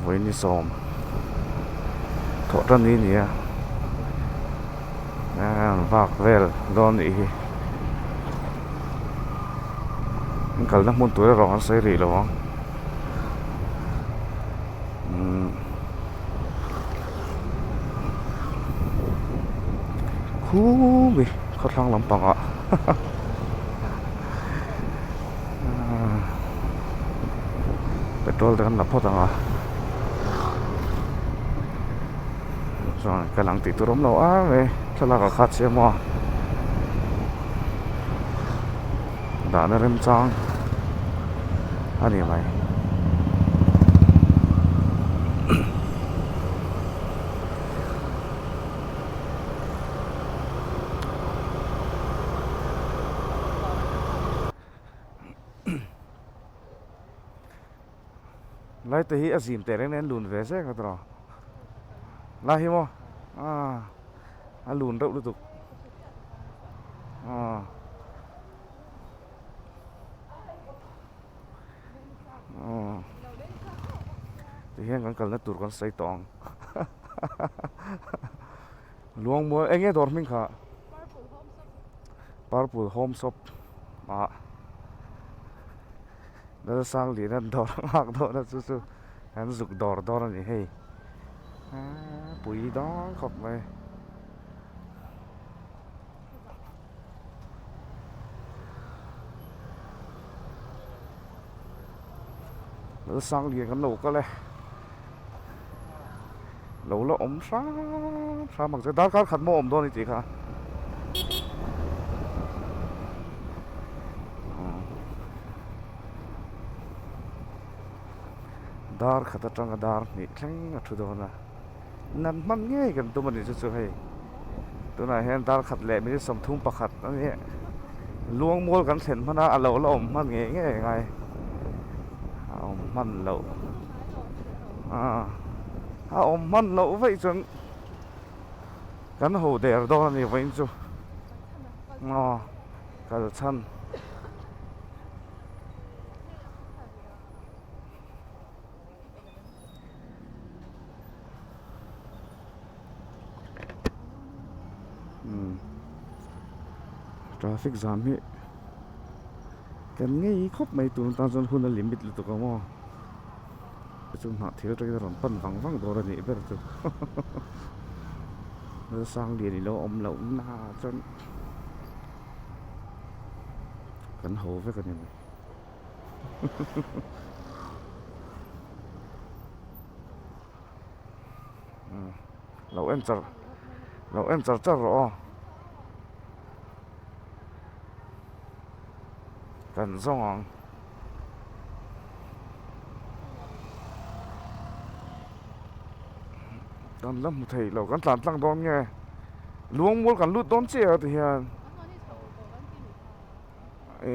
Vawiin sawm tawh ta ni nia an vak vel dawn nih hi an kalna hmun tur erawh an sawi rih lo ang umm khumi khawthlang lampangah haha. petrol te kan la phawt ang a chuan kan ang tih tur awm lo ar mai thlalak a khat chiah a maw dahna rem chang a ni mai. lai te hi a zim teh reng nen a lun ve zek a tawrh a lai hi maw aaa a lun reuh lutuk aaa. oh tui hian kan kalna tur kan sawi tawh ang luang mual eng nge dawr hming kha purple home shop ah lal sang lehna dawr nghak dawhna chu chu kan zuk dawr dawr a ni hei pui dang khawp mai. sang lian kan lo kal e lo la awm hram hram ang che darkar khat maw a awm dawn a ni tih kha dar khat atanga dar hnih thleng a thu dawn a. Nan hman ngei kan tum a nih chu chu hei tunah hian darkhat leh minute sawmthum pakhat a ni a luangmual kan thlen hman a a lo la awm hman ngei ngei ang ai a awm hman loh ah a awm hman loh vaih chuan kan ho der dawn a ni vawiin chu aw kalchhan traffic jam hi kan ngei khawp mai tur tan chuan hun a limit lutuk ang aw te chu hnah thel aṭangin a rawn pan vang vang dawr anih ber chu nasa sanglian ilo awm loh na chuan kan ho vek a ni. lo en char lo en char char a aw kan zawng ang. kan la hmu thei lo kan tlan tlang dawn nge luangmual kan lut dawn chiah a ti hian e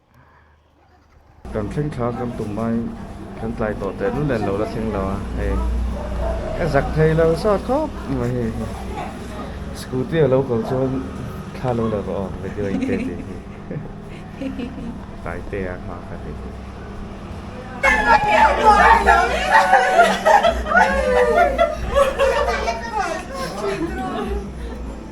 Kan thleng thla kan tum mai kan tlai tawh teh nu nen lo la thleng lo a hei ka zak thei lo sawt khawp mai hi scooty a lo kal chuan thla lo la va awm video in te tih hi tlai te a hma kha tih hi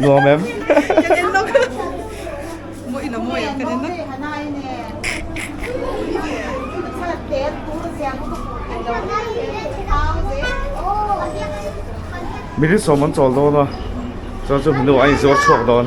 nuam em mihring sawm an chawl dawn a chuan chu hnu a inzuar chhuak dawn.